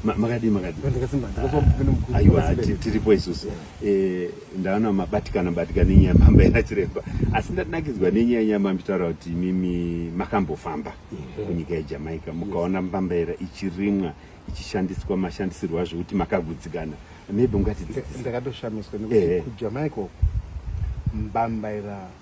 makadii makadiiaiwa tiripo isusu eh, ndaona mabatikana batikana enyaya mamba ena chiremba asi ndanakidzwa nenyaya nyaya mamitaura kuti imimi makambofamba kunyika yejamaica mukaona mbambaera ichirimwa ichishandiswa mashandisirwo azvo kuti makagudzikana maybe mungatidzindakatoshamiswa nekuti kujamaica mbambaera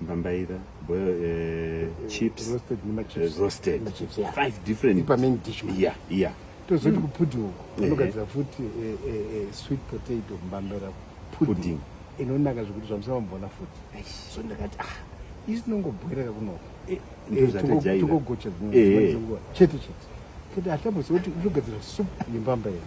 mbambaira boil uh, chips roasted, uh, roasted. Chips, yeah. five different ipa main dish man. yeah yeah tozoti mm. kupudi uko anogadzira eh, eh. futi eh, eh, eh, sweet potato mbambaira pudding, pudding. inonaka zvekuti zvamusava mubona futi so ndakati ah isi tinongobhoireka kunoko eh, eh, togogocha dzimwe chete chete kati hatabozoti utogadzira supu yembambaira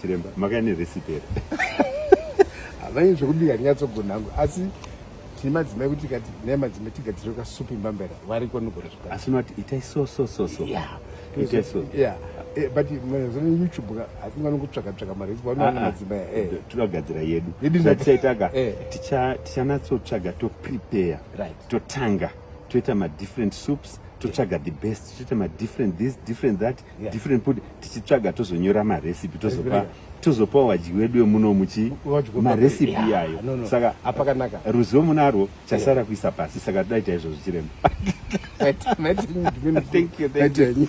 chiremba makaya nerecipe here havaini zvekubika ndinyatsogona hangu asi tine madzimai kuti kati naye madzimai tigadzire kasupi mbambera variko nogona zvaka asi unoti itai so so so so ya itai so ya eh, but mazana youtube ka asi ngano kutsvaka tsvaka mari ipo vanoona ah, ah. madzimai eh. tinogadzira yedu yedu zvatichaitaga eh. tichanatsotsvaga to prepare right totanga toita ma different soups totsvaga the best toita ma different this different that yeah. different put tichitsvaga tozonyora marecipe tozopa tozopawo vadyi wedu vemuno muchi marecipe yeah. iyayo no, no. saka apakanaka ruzivo munarwo chasara yeah. kuisa pasi saka toda ita izvozvo chiremba thank you, thank you.